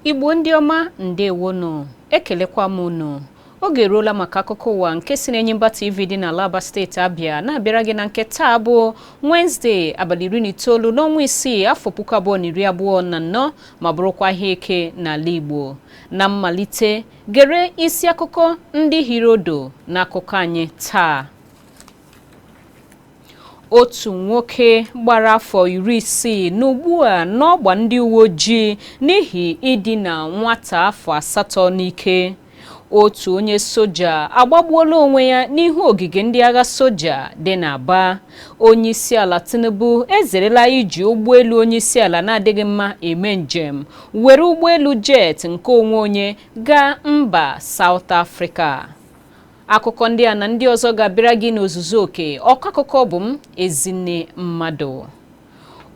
igbo ndị ọma ndewonu ekelekwa m unu Oge eruola maka akụkọ ụwa nke si n'Enyimba TV dị n'ala Aba steeti Abịa na-abịara gị na nke taa bụ Wenezdee abalị iri na itoolu n'ọnwa isii afọ puku abụọ na iri abụọ na anọ ma bụrụkwa ahịa eke n'ala Igbo. Na mmalite, gere isi akụkọ ndị hiri odo n'akụkọ anyị taa. Otu nwoke gbara afọ iri isii nọ ugbu a n'ọgba ndị uwe ojii n'ihi idina nwata afọ asatọ n'ike. otu onye soja agbagbuola onwe ya n'ihu ogige ndị agha soja dị n'Aba onyeisiala Tinubu ezerela iji ụgbọelu onyeisiala na-adịghị mma eme njem were ụgbọelu jet nke onwe onye gaa mba South Africa akụkọ ndị a na ndị ọzọ ga-abịara gị n'ozuzu oke ọkọ akụkọ bụ m Ezinne Mmadụ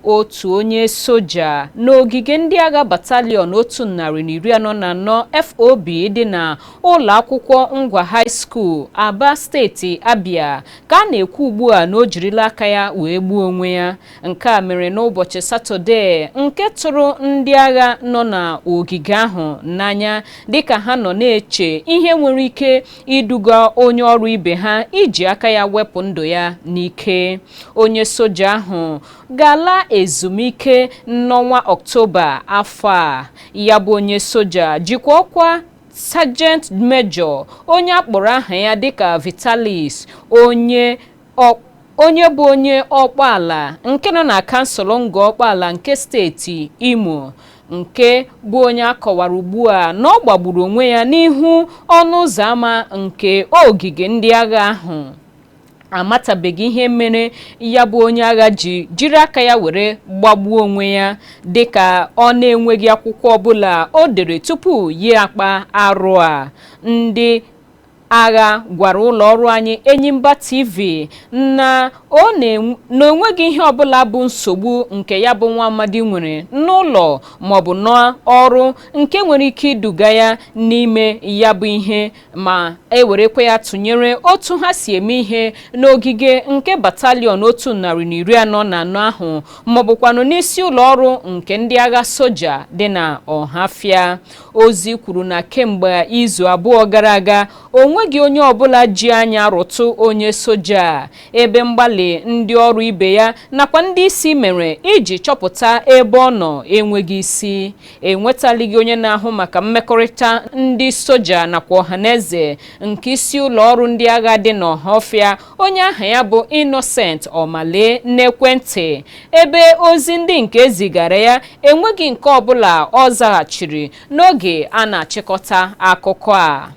otu onye soja n'ogige ndị agha batalion otu narị na iri anọ na anọ FOB dị na ụlọ akwụkwọ Ngwa High School Aba steeti Abia ka a na-ekwu ugbu a na o jirila aka ya wee gbuo onwe ya nke a mere n'ụbọchị Satọde nke tụrụ ndị agha nọ na ogige ahụ n'anya dịka ha nọ na-eche ihe nwere ike iduga onye ọrụ ibe ha iji aka ya wepụ ndụ ya n'ike onye soja ahụ ga-ala ezumike n'ọnwa ọktoba afọ a ya bụ onye soja jikwa ọkwa sajent mejọ onye akpọrọ aha ya dịka vitalis onye bụ onye ọkpụala nke nọ na kansụl ngọ ọkpụala nke steeti imo nke bụ onye akọwara ugbu a na ọ gbagburu onwe ya n'ihu ọnụ ụzọ ámá nke ogige ndị agha ahụ amatabeghị ihe mere ya bụ onye agha ji jiri aka ya were gbagbuo onwe ya dịka ọ na-enweghị akwụkwọ ọbụla o dere tupu ya akpa arụ a ndị agha gwara ụlọ ọrụ anyị Enyimba TV na ọ na-enw- na o nweghị ihe ọbụla bụ nsogbu nke ya bụ nwa amadi nwere n'ụlọ maọbụ n'ọrụ nke nwere ike iduga ya n'ime ya bụ ihe ma e werekwa ya tụnyere otu ha si eme ihe n'ogige nke batalion otu narị na iri anọ na anọ ahụ maọbụkwanụ n'isi ụlọ ọrụ nke ndị agha soja dị na ọhafịa ozi kwuru na kemgbe izu abụọ gara aga o nweghị onye ọbụla ji anya rụtụ onye soja a ebe mgbalị ndị ọrụ ibe ya nakwa ndị isi mere iji chọpụta ebe ọ nọ enweghị isi enwetalighị onye na-ahụ maka mmekọrịta ndị soja nakwa ọhaneze nke isi ụlọ ọrụ ndị agha dị n'Ọhafịa onye aha ya bụ Innocent Omale n'ekwentị ebe ozi ndị nke ezigara ya enweghị nke ọbụla ọ zaghachiri n'oge a na-achịkọta akụkọ a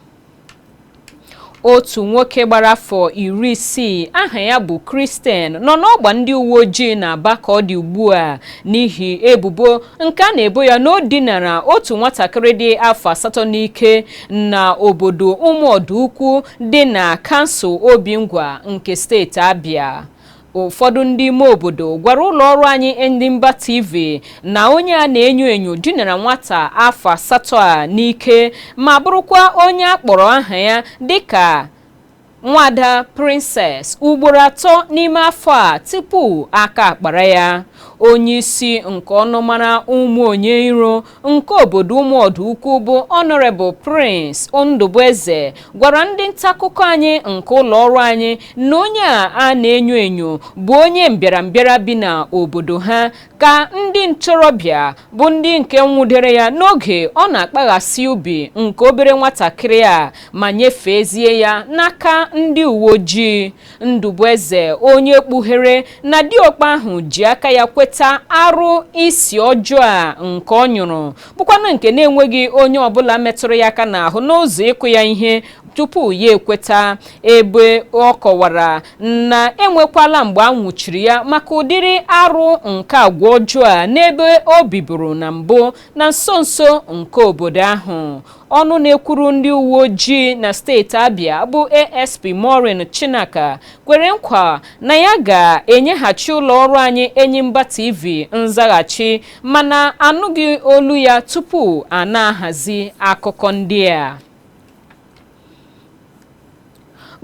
otu nwoke gbara afọ iri isii aha ya bụ Christian nọ n'ọgba ndị uwe ojii n'Aba ka ọ dị ugbu a n'ihi ebubo nke a na-ebo ya na o dinara otu nwatakịrị dị afọ asatọ n'ike na obodo ụmụọdụ ukwu dị na kansụl Obingwa nke steeti Abia ụfọdụ ndị ime obodo gwara ụlọ ọrụ anyị Enyimba TV na onye a na-enyo enyo dinara nwata afọ asatọ a n'ike ma bụrụkwa onye a kpọrọ aha ya dịka nwada Princess ugboro atọ n'ime afọ a tupu aka akpara ya onye isi nke ọnụmara ụmụ onye iro nke obodo ụmụọdụ ukwu bụ Honorable Prince Ndụbụeze gwara ndị ntakụkọ anyị nke ụlọ ọrụ anyị na onye a a na-enyo enyo bụ onye mbịarambịara bi na obodo ha ka ndị ntorobịa bụ ndị nke nwụdere ya n'oge ọ na-akpaghasị ubi nke obere nwatakịrị a ma nyefeezie ya n'aka ndị uwe ojii Ndụbụeze onye kpughere na diokpa ahụ ji aka ya kweta arụ isi ọjọọ a nke ọ nyụrụ bụkwanụ nke na-enweghị onye ọbụla metụrụ ya aka n'ahụ n'ụzọ ịkụ ya ihe tupu ya ekweta ebe ọ kọwara na enwekwala mgbe a nwụchiri ya maka ụdịrị arụ nke agwa ọjọọ a n'ebe o biburu na mbụ na nso nso nke obodo ahụ Ọnụ na-ekwuru ndị uwe ojii na steeti Abia bụ ASP Maureen Chinaka kwere nkwa na ya ga-enyeghachi ụlọ ọrụ anyị Enyimba TV nzaghachi mana anụghị olu ya tupu a na-ahazi akụkọ ndị a.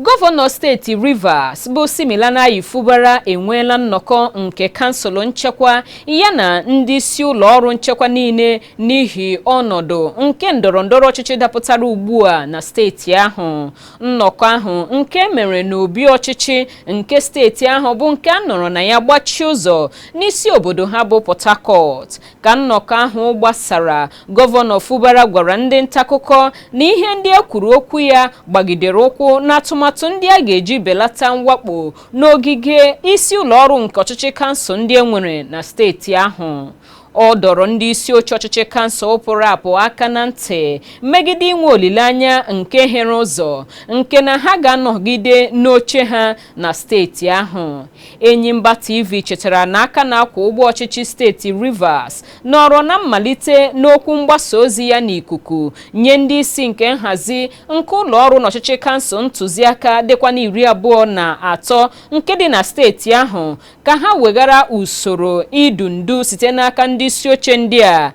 Gọvanọ steeti Rivers bụ Siminalayi Fubara enweela nnọkọ nke kansụl nchekwa yana ndị isi ụlọ ọrụ nchekwa niile n'ihi ọnọdụ nke ndọrọ ndọrọ ọchịchị dapụtara ugbu a na steeti ahụ. Nnọkọ ahụ nke e mere n'obi ọchịchị nke steeti ahụ bụ nke a nọrọ na ya gbachie ụzọ n'isi obodo ha bụ Port Harcourt. Ka nnọkọ ahụ gbasara, Gọvanọ Fubara gwara ndị ntakụkọ na ihe ndị e kwuru okwu ya gbagidere ụkwụ n'atụmatụ ndị a ga-eji belata mwakpo n'ogige isi ụlọọrụ nke ọchịchị kansụl ndị e nwere na steeti ahụ. Ọ dọrọ ndị isi oche ọchịchị kansụl pụrụ apụ aka na ntị megide inwe olileanya nke hiere ụzọ nke na ha ga-anọgide n'oche ha na steeti ahụ Enyimba TV chetara na aka na-akwa ụgbọ ọchịchị steeti Rivers nọrọ na mmalite n'okwu mgbasa ozi ya n'ikuku nye ndị isi nke nhazi nke ụlọ ọrụ n'ọchịchị kansụl ntụziaka dịkwa na iri abụọ na atọ nke dị na steeti ahụ ka ha weghara usoro idu ndu site n'aka ndị isi oche ndị a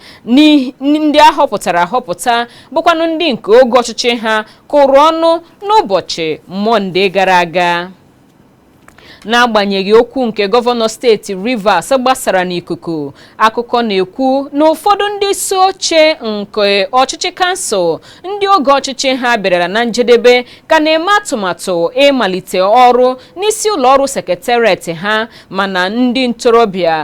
ndị a họpụtara ahọpụta bụkwanụ ndị nke oge ọchịchị ha kụrụ ọnụ n'ụbọchị Mọnde gara aga. N'agbanyeghị okwu nke gọvanọ steeti Rivers gbasara n'ikuku, akụkọ na-ekwu na ụfọdụ ndị isi oche nke ọchịchị kansụl ndị oge ọchịchị ha bịarala na njedebe ka na-eme atụmatụ ịmalite ọrụ n'isi ụlọ ọrụ sekretariat ha mana ndị ntorobịa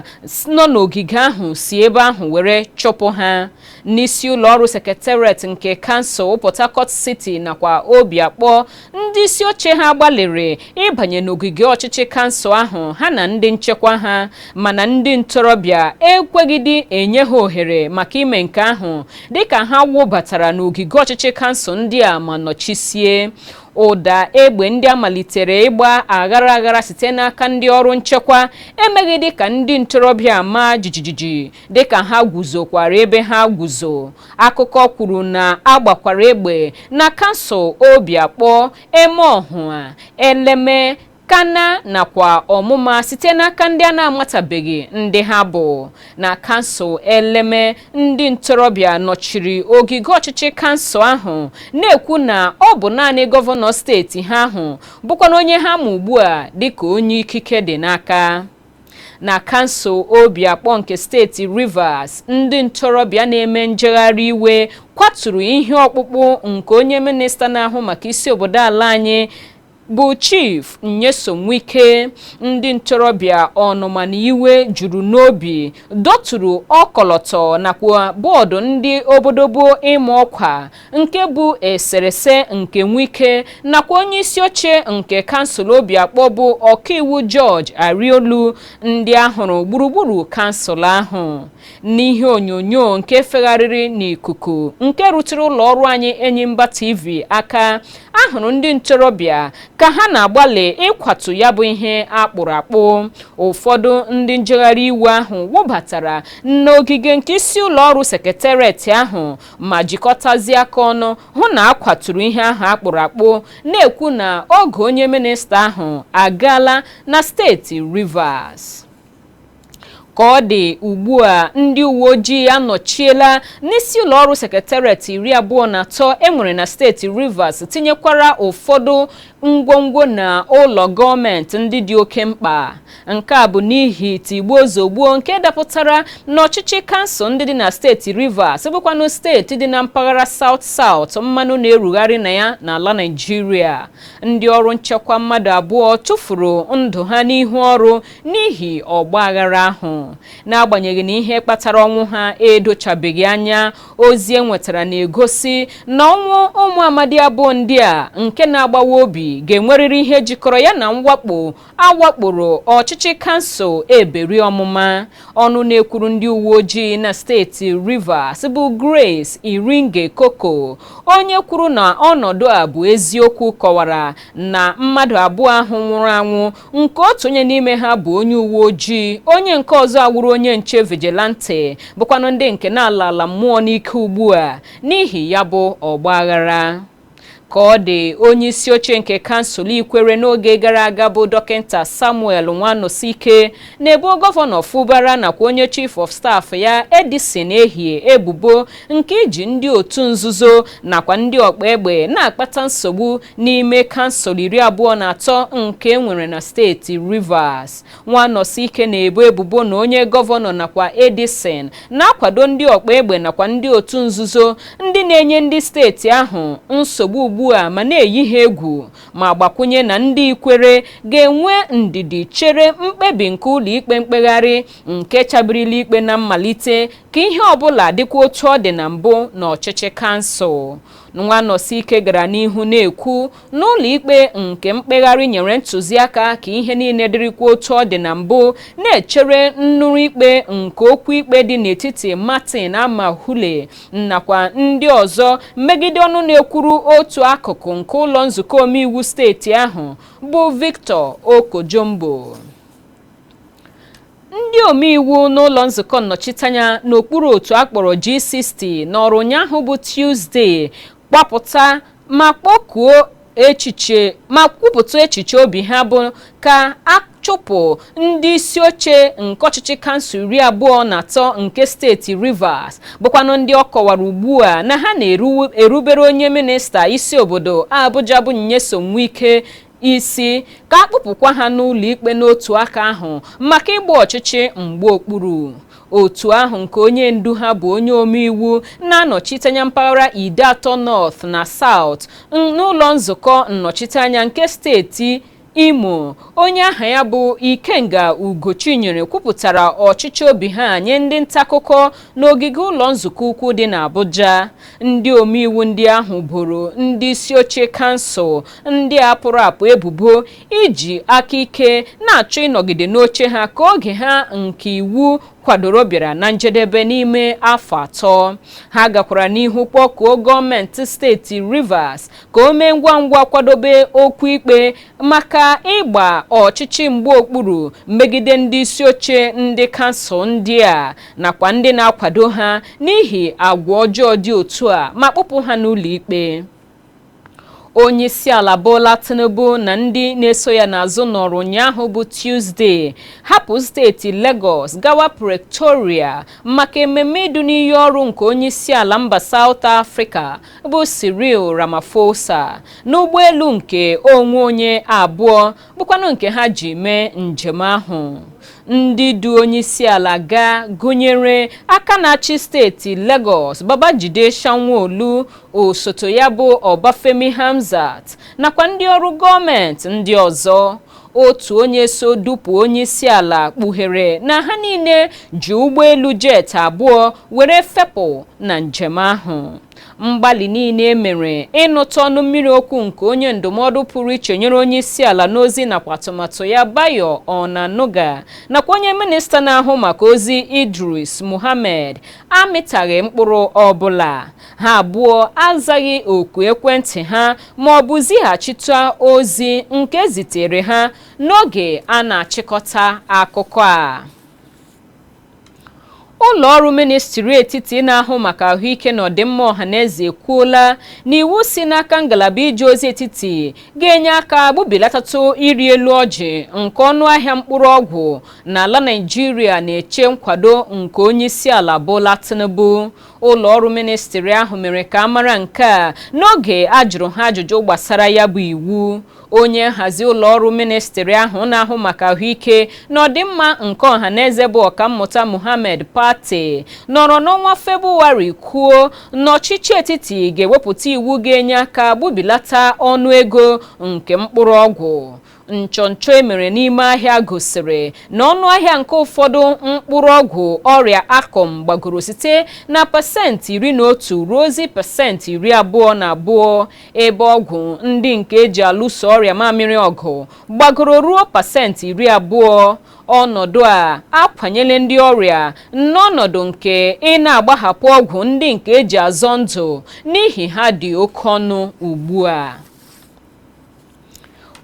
nọ n'ogige ahụ si ebe ahụ were chụpụ ha. n'isi ụlọ ọrụ sekretariat nke kansụl Port Harcourt City nakwa Obiakpọ ndị isi oche ha gbalịrị ịbanye n'ogige ọchịchị kansụl ahụ ha na ndị nchekwa ha mana ndị ntorobịa ekweghịdị enye ha ohere maka ime nke ahụ dịka ha wụbatara n'ogige ọchịchị kansụl ndị a ma nọchisie ụda egbe ndị a malitere ịgba aghara aghara site n'aka ndị ọrụ nchekwa emeghịdị ka ndị ntorobịa maa jijiji dịka ha guzokwara ebe ha guzo akụkọ kwuru na a gbakwara egbe na kansụl Obiakpọ, Emeọhụa, Eleme, Kana nakwa Ọmụma site n'aka ndị a na-amatabeghị ndị ha bụ. Na kansụl Eleme, ndị ntorobịa nọchiri ogige ọchịchị kansụl ahụ na-ekwu na ọ bụ naanị gọvanọ steeti ha ahụ bụkwanụ onye ha ma ugbu a dịka onye ikike dị n'aka. Na kansụl Obiakpọ nke steeti Rivers, ndị ntorobịa na-eme njegharị iwe kwaturu ihe ọkpụkpụ nke onye minista na-ahụ maka isi obodo ala anyị bụ Chief Nyesom Wike. Ndị ntorobịa ọnụma na iwe juru n'obi dọturu ọkọlọtọ nakwa bọọdụ ndị obodobo ịma ọkwa nke bụ eserese nke Nwike nakwa onye isi oche nke kansụl Obiakpọ bụ ọkaiwu George Ariolu ndị a hụrụ gburugburu kansụl ahụ n'ihe onyonyo nke fegharịrị n'ikuku nke rutere ụlọ ọrụ anyị Enyimba TV aka a hụrụ ndị ntorobịa ka ha na-agbalị ịkwatu ya bụ ihe a kpụrụ akpụ ụfọdụ ndị njegharị iwe ahụ wụbatara n'ogige nke isi ụlọ ọrụ sekretariat ahụ ma jikọtazie aka ọnụ hụ na a kwaturu ihe ahụ a kpụrụ akpụ na-ekwu na oge onye minista ahụ agaala na steeti Rivers ka ọ dị ugbu a ndị uwe ojii anọchiela n'isi ụlọ ọrụ sekretariat iri abụọ na atọ e nwere na steeti Rivers tinyekwara ụfọdụ ngwongwo na ụlọ gọọmenti ndị dị oke mkpa Nke a bụ n'ihi tigbuo zogbuo nke dapụtara n'ọchịchị kansụl ndị dị na steeti Rivers bụkwanụ steeti dị na mpaghara South South mmanụ na-erugharị na ya n'ala Naịjirịa. Ndị ọrụ nchekwa mmadụ abụọ tufuru ndụ ha n'ihu ọrụ n'ihi ọgba aghara ahụ. N'agbanyeghị na ihe kpatara ọnwụ ha edochabeghị anya, ozi e nwetara na-egosi na ọnwụ ụmụ amadi abụọ ndị a nke na-agbawa obi ga-enwerịrị ihe jikọrọ ya na mwakpo a wakporo ọchịchị kansụl Eberi Omuma ọnụ na-ekwuru ndị uwe ojii na steeti Rivers bụ Grace Iringe Koko onye kwuru na ọnọdụ a bụ eziokwu kọwara na mmadụ abụọ ahụ nwụrụ anwụ nke otu onye n'ime ha bụ onye uwe ojii onye nke ọzọ awụrụ onye nche vigilante bụkwanụ ndị nke na-ala ala mmụọ n'ike ugbu a n'ihi ya bụ ọgba aghara ka ọ dị onye isi oche nke kansụl ikwere n'oge gara aga bụ dọkịta samuel nwanosike na-ebo gọvanọ Fubara nakwa onye chief of staff ya edison ehie ebubo nke iji ndị otu nzuzo nakwa ndị ọkpa egbe na-akpata nsogbu n'ime kansụl iri abụọ na atọ nke e nwere na steeti rivers Nwanosike na-ebo ebubo na onye gọvanọ nakwa Edison na-akwado ndị ọkpa egbe nakwa ndị otu nzuzo ndị na-enye ndị steeti ahụ nsogbu ugbu a ma na-eyi ha egwu ma gbakwụnye na ndị Ikwere ga-enwe ndidi chere mkpebi nke ụlọikpe mkpegharị nke chabirila ikpe na mmalite ka ihe ọbụla dịkwa otu ọ dị na mbụ n'ọchịchị kansụl. Nwanosike gara n'ihu na-ekwu na ụlọikpe nke mkpegharị nyere ntụziaka ka ihe niile dịrịkwa otu ọ dị na mbụ na-echere nnụrụ ikpe nke okwu ikpe dị n'etiti Martin Amaewhule nakwa ndị ọzọ megide ọnụ na-ekwuru otu akụkụ nke ụlọ nzukọ omeiwu steeti ahụ bụ Victor Oko-Jumbo Ndị omeiwu n'ụlọ nzukọ nnọchiteanya n'okpuru otu a kpọrọ G60 nọọrọ ụnyaahụ bụ Tuzdee gbapụta ma kpọkuo echiche ma kwupụta echiche obi ha bụ ka a chụpụ ndị isi oche nke ọchịchị kansụl iri abụọ na atọ nke steeti Rivers bụkwanụ ndị ọ kọwara ugbu a na ha na-erubere onye minista isi obodo Abuja bụ Nyesom Wike isi ka a kpụpụkwa ha n'ụlọikpe n'otu aka ahụ maka ịgba ọchịchị mgba okpuru otu ahụ nke onye ndu ha bụ onye omeiwu na-anọchiteanya mpaghara ideato north na south n'ụlọ nzukọ nnọchiteanya nke steeti imo onye aha ya bụ ikenga ugochinyere kwupụtara ọchịchọ obi ha nye ndị ntakụkọ n'ogige ụlọ nzukọ ukwu dị n'abuja ndị omeiwu ndị ahụ boro ndị isi oche kansụl ndị a pụrụ apụ ebubo iji aka ike na-achọ ịnọgide n'oche ha ka oge ha nke iwu kwadoro bịara na njedebe n'ime afọ atọ ha gakwara n'ihu kpọkuo gọọmenti steeti Rivers ka o mee ngwa ngwa kwadobe okwu ikpe maka ịgba ọchịchị mgba okpuru megide ndị isi oche ndị kansụl ndị a nakwa ndị na-akwado ha n'ihi agwa ọjọọ dị otu a ma kpụpụ ha n'ụlọ ikpe onyeisiala Bola Tinubu na ndị na-eso ya n'azụ nọrọ ụnyaahụ bụ Tuzdee hapụ steeti Lagos gawa Pretoria maka ememme idu n'iyi ọrụ nke onyeisiala mba South Africa bụ Cyril Ramaphosa n'ụgbọelu nke onwe onye abụọ bụkwanụ nke ha ji mee njem ahụ ndị du onyeisiala gaa gụnyere aka na-achị steeti Lagos Babajide Sanwo-Olu osote ya bụ Obafemi Hamzat nakwa ndị ọrụ gọọmenti ndị ọzọ otu onye so dupụ onyeisiala kpughere na ha niile ji ụgbọelu jet abụọ were fepụ na njem ahụ mgbalị niile e mere ịnụta ọnụ mmiri okwu nke onye ndụmọdụ pụrụ iche nyere onye isi ala n'ozi nakwa atụmatụ ya Bayo Onanuga nakwa onye minista na-ahụ maka ozi Idris Muhammad amịtaghị mkpụrụ ọbụla ha abụọ azaghị oku ekwentị ha ma ọ bụ zighachite ozi nke e zitere ha n'oge a na-achịkọta akụkọ a Ụlọ ọrụ ministri etiti na-ahụ maka ahụike na ọdịmma ọhaneze ekwuola na iwu si n'aka ngalaba ije ozi etiti ga-enye aka gbubilatatụ ịrị elu ọjị nke ọnụ ahịa mkpụrụ ọgwụ n'ala Naịjirịa na-eche nkwado nke onye isi ala Bola Tinubu. Ụlọ ọrụ ministri ahụ mere ka a mara nke a n'oge a jụrụ ha ajụjụ gbasara ya bụ iwu. onye nhazi ụlọọrụ ministri ahụ na-ahụ maka ahụike na ọdịmma nke ọha na eze bụ ọkammụta Muhammad Pate nọrọ n'ọnwa Febụwarị kwuo na ọchịchị etiti ga-ewepụta iwu ga-enye aka gbubilata ọnụ ego nke mkpụrụ ọgwụ nchọnchọ e mere n'ime ahịa gosiri na ọnụ ahịa nke ụfọdụ mkpụrụ ọgwụ ọrịa akọm gbagoro site na pasentị iri na otu ruozie pasentị iri abụọ na abụọ ebe ọgwụ ndị nke eji alụso ọrịa mamịrị ọgụ gbagoro ruo pasentị iri abụọ ọnọdụ a akwanyela ndị ọrịa n'ọnọdụ nke ị na-agbahapụ ọgwụ ndị nke eji azọ ndụ n'ihi ha dị oke ọnụ ugbu a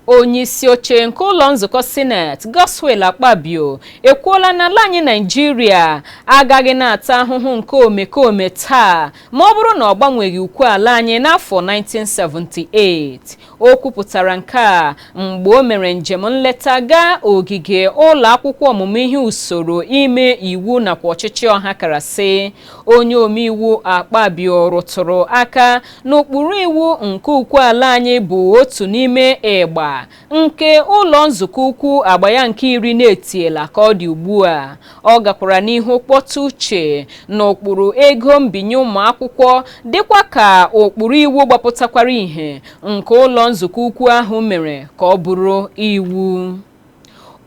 onyeisioche nke ụlọ nzukọ sineti Godswill Akpabio ekwuola na ala anyị Naịjirịa agaghị na-ata ahụhụ nke omekome taa ma ọ bụrụ na ọ gbanweghị ukwe ala anyị n'afọ 1978 o kwupụtara nke a mgbe o mere njem nleta gaa ogige ụlọ akwụkwọ ọmụmụ ihe usoro ime iwu nakwa ọchịchị ọhakarasị onye omeiwu Akpabio rụtụrụ aka N'ụkpụrụ iwu nke ukwe ala anyị bụ otu n'ime ịgba nke ụlọ nzukọ ukwu agba ya nke iri na-etiela ka ọ dị ugbu a. Ọ gakwara n'ihu kpọtụ uche n'ụkpụrụ ego mbinye ụmụ akwụkwọ dịkwa ka ụkpụrụ iwu gbapụtakwara ihe nke ụlọ nzukọ ukwu ahụ mere ka ọ bụrụ iwu.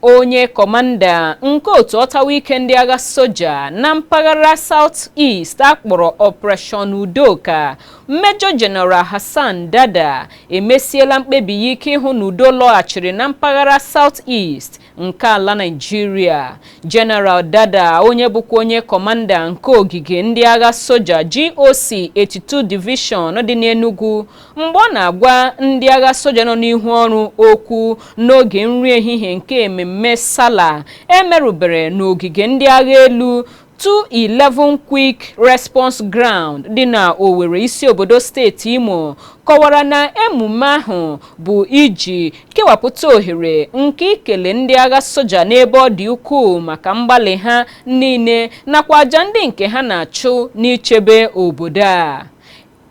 onye kọmanda nke otu ọtawa ike ndị agha soja na mpaghara South East akpọrọ Operation Udoka Major General Hassan Dada emesiela mkpebi ya ike ịhụ na udo lọghachiri na mpaghara South East nke ala Naịjirịa General Dada onye bụkwa onye kọmanda nke ogige ndị agha soja GOC 82 Division dị n'Enugu Mgbe ọ na-agwa ndị agha soja nọ n'ihu ọrụ okwu n'oge nri ehihie nke ememme Sala emerụbere n'ogige ndị agha elu 211 Quick Response Ground dị na Owerri isi obodo steeti Imo kọwara na emume ahụ bụ iji kewapụta ohere nke ikele ndị agha soja n'ebe ọ dị ukwuu maka mgbalị ha niile nakwa aja ndị nke ha na-achụ n'ichebe obodo a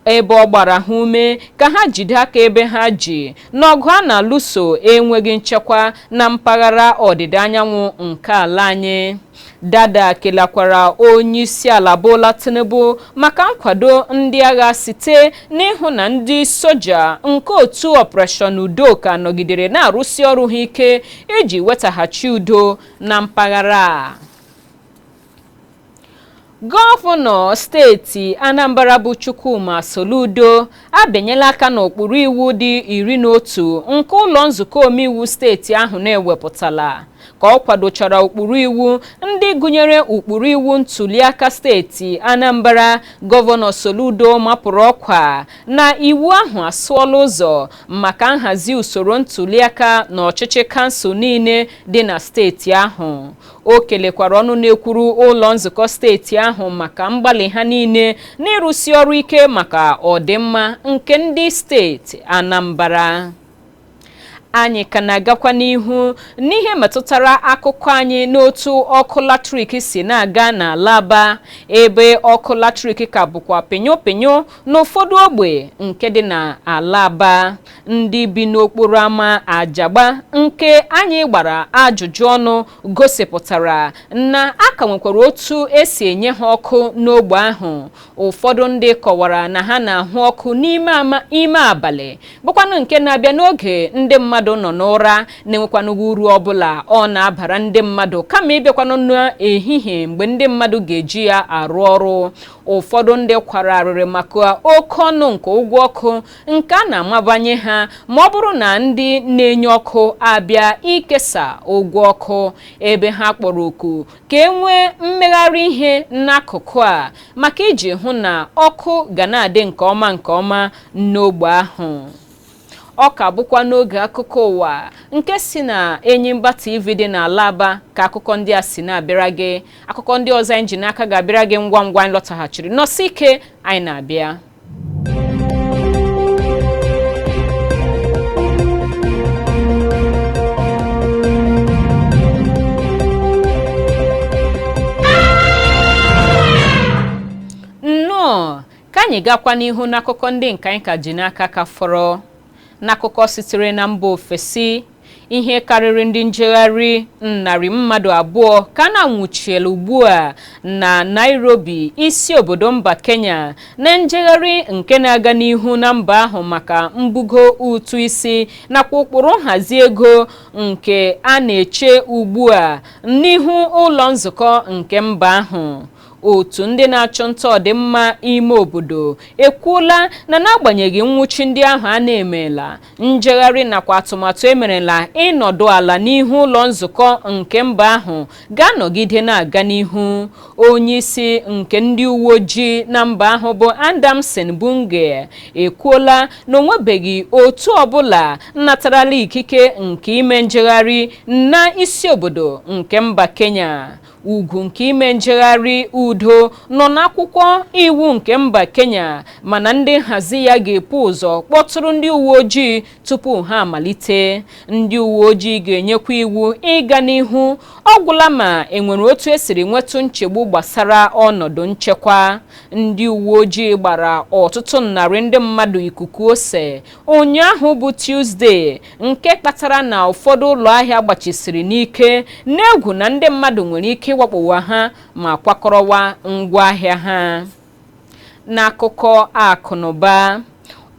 ebe ọ gbara ha ume ka ha jide aka ebe ha ji n'ọgụ a na-alụso enweghị nchekwa na mpaghara ọdịda anyanwụ nke ala anyị dada kelakwara onye isi ala Bola Tinubu maka nkwado ndị agha site n'ịhụ na ndị soja nke otu Operation Udo ka nọgidere na-arụsi ọrụ ha ike iji wetaghachi udo na mpaghara a Gọvanọ steeti Anambra bụ Chukwuma Soludo abịanyela aka n'ụkpụrụ iwu dị iri na otu nke ụlọ nzukọ omeiwu steeti ahụ na-ewepụtala ka ọ kwadochara ụkpụrụ iwu ndị gụnyere ụkpụrụ iwu ntuliaka steeti Anambra gọvanọ Soludo mapụrụ ọkwa na iwu ahụ asụọla ụzọ maka nhazi usoro ntuliaka na ọchịchị kansụl niile dị na steeti ahụ o kelekwara ọnụ na-ekwuru ụlọ nzukọ steeti ahụ maka mgbalị ha niile n'ịrụsi ọrụ ike maka ọdịmma nke ndị steeti Anambra anyị ka na-agakwa n'ihu n'ihe metụtara akụkọ anyị n'otu ọkụ latrik si na-aga n'ala Aba ebe ọkụ latrik ka bụkwa pịnyụ pịnyụ n'ụfọdụ ogbe nke dị n'ala Aba Ndị bi n'okporo ama Ajagba nke anyị gbara ajụjụ ọnụ gosipụtara na a ka nwekwara otu esi enye ha ọkụ n'ogbe ahụ. Ụfọdụ ndị kọwara na ha na-ahụ ọkụ n'ime abalị bụkwanụ nke na-abịa n'oge ndị mmadụ nọ n'ụra na-enwekwanụghị uru ọbụla ọ na-abara ndị mmadụ kama ịbịakwanụ n'ehihie mgbe ndị mmadụ ga-eji ya arụ ọrụ. Ụfọdụ ndị kwara arịrị maka oke ọnụ nke ụgwọ ọkụ nke a na-amabanye ha ma ọ bụrụ na ndị na-enye ọkụ abịa ikesa ụgwọ ọkụ ebe ha kpọrọ oku ka e nwee mmegharị ihe n'akụkụ a maka iji hụ na ọkụ ga na-adị nke ọma nke ọma n'ogbe ahụ ọ ka bụkwa n'oge akụkọ ụwa nke si na Enyimba TV dị n'ala Aba ka akụkọ ndị a si na-abịara gị akụkọ ndị ọzọ anyị ji n'aka ga-abịara gị ngwa ngwa anyị lọtaghachiri nọsi ike anyị na-abịa anyị gakwa n'ihu n'akụkọ ndị nke anyị ka ji n'aka ka fọrọ N'akụkọ sitere na mba ofesi, ihe karịrị ndị njegharị narị mmadụ abụọ ka a na-anwụchiela ugbu a na Nairobi, isi obodo mba Kenya, na njegharị nke na-aga n'ihu na mba ahụ maka mbugo ụtụ isi nakwa ụkpụrụ nhazi ego nke a na-eche ugbu a n'ihu ụlọ nzukọ nke mba ahụ. otu ndị na-achụ nta ọdịmma ime obodo ekwuola na n'agbanyeghị nwụchi ndị ahụ a na-emela njegharị nakwa atụmatụ emerela ịnọdụ ala n'ihu ụlọ nzukọ nke mba ahụ ga-anọgide na-aga n'ihu onye isi nke ndị uwe ojii na mba ahụ bụ Adamson Bungei ekwuola na o nwebeghị otu ọbụla natarala ikike nke ime njegharị na isi obodo nke mba Kenya ugwu nke ime njegharị udo nọ n'akwụkwọ iwu nke mba Kenya mana ndị nhazi ya ga-epu ụzọ kpọtụrụ ndị uwe ojii tupu ha amalite ndị uwe ojii ga-enyekwa iwu ịga n'ihu ọ gwụla ma enwere otu esiri nwetụ nchegbu gbasara ọnọdụ nchekwa ndị uwe ojii gbara ọtụtụ narị ndị mmadụ ikuku ose ụnyaahụ bụ Tuzdee nke kpatara na ụfọdụ ụlọ ahịa gbachisiri n'ike n'egwu na ndị mmadụ nwere ike ịwakpowa ha ma kwakọrọwa ngwa ahịa ha n'akụkọ akụnụba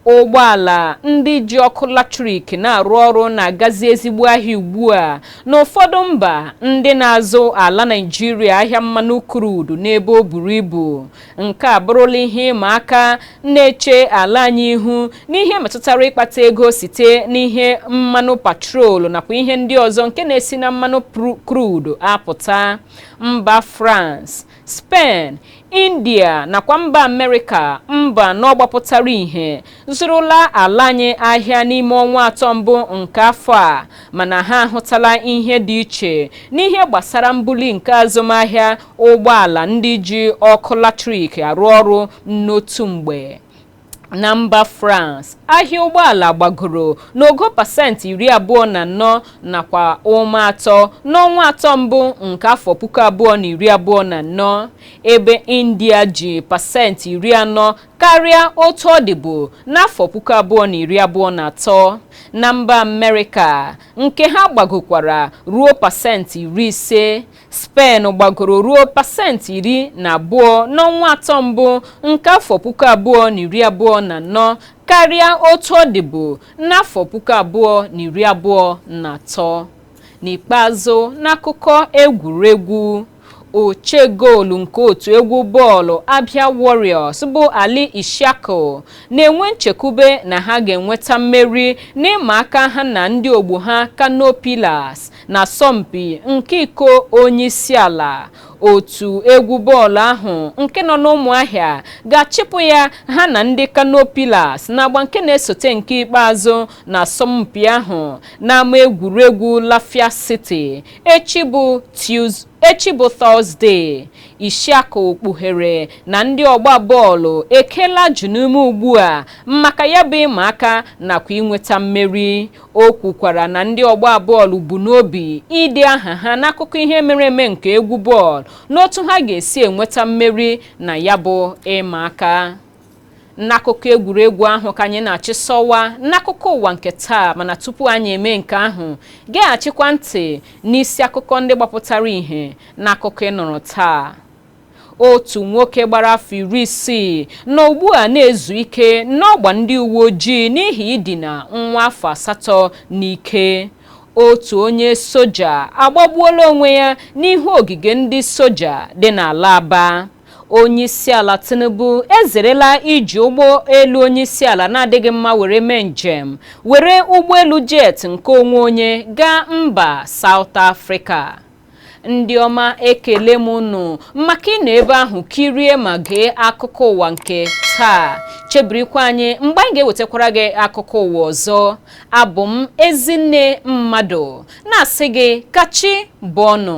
ụgbọala ndị ji ọkụ latrik na-arụ ọrụ na-agazi ezigbo ahịa ugbu a n'ụfọdụ mba ndị na-azụ ala Naịjirịa ahịa mmanụ krudu n'ebe o buru ibu Nke a bụrụla ihe ịma aka na-eche ala anyị ihu n'ihe metụtara ịkpata ego site n'ihe mmanụ patrol nakwa ihe ndị ọzọ nke na-esi na mmanụ krudu apụta. Mba France, Spen, India nakwa mba Amerịka mba anọ gbapụtara ihe zụrụla ala anyị ahịa n'ime ọnwa atọ mbụ nke afọ a mana ha ahụtala ihe dị iche n'ihe gbasara mbuli nke azụmahịa ụgbọala ndị ji ọkụ latrik arụ ọrụ n'otu mgbe na mba France ahịa ụgbọala gbagoro n'ogo pasentị iri abụọ na anọ nakwa ụma atọ n'ọnwa atọ mbụ nke afọ puku abụọ na iri abụọ na anọ ebe India ji pasentị iri anọ karịa otu ọ dịbu n'afọ puku abụọ na iri abụọ na atọ na mba Amerịka nke ha gbagokwara ruo pasentị iri ise Spen gbagoro ruo pasentị iri na abụọ n'ọnwa atọ mbụ nke afọ puku abụọ na iri abụọ na anọ karịa otu ọ dịbu n'afọ puku abụọ na iri abụọ na atọ n'ikpeazụ n'akụkọ egwuregwu oche goolu nke otu egwu bọọlụ Abia Warriors bụ Ali Ishaku na-enwe nchekwube na ha ga-enweta mmeri n'ịma aka ha na ndị ogbo ha Kano Pillars n'asọmpi nke iko onyeisiala otu egwu bọọlụ ahụ nke nọ n'Ụmụahịa ga-achịpụ ya ha na ndị Kano Pillars n'agba nke na-esote nke ikpeazụ n'asọmpi ahụ n'ama egwuregwu Lafia City Echi bụ Tọzdee, Ishaku kpughere na ndị ọgba bọọlụ ekela ajị n'ume ugbu a maka ya bụ ịma aka nakwa inweta mmeri. O kwukwara na ndị ọgba bọọlụ bu n'obi ide aha ha n'akụkọ ihe mere eme nke egwu bọọlụ n'otu ha ga-esi enweta mmeri na ya bụ ịma aka. N'akụkọ egwuregwu ahụ ka anyị na-achịsọwa n'akụkọ ụwa nke taa mana tupu anyị eme nke ahụ geghachikwa ntị n'isi akụkọ ndị gbapụtara ihe n'akụkọ ị nụrụ taa otu nwoke gbara afọ iri isii nọ ugbu a na-ezu ike n'ọgba ndị uwe ojii n'ihi idina nwa afọ asatọ n'ike otu onye soja agbagbuola onwe ya n'ihu ogige ndị soja dị n'ala Aba onyeisiala tinubu ezerela iji ụgbọ elu onyeisiala na-adịghị mma were mee njem were ụgbọelu jet nke onwe onye gaa mba saụt afrịka ndị ọma ekele m unu maka ịnọ ebe ahụ kirie ma gee akụkọ ụwa nke taa chebirikwa anyị mgbe anyị ga-ewetakwara gị akụkọ ụwa ọzọ abụ m ezinne mmadụ na-asị gị ka chi bọọ nụ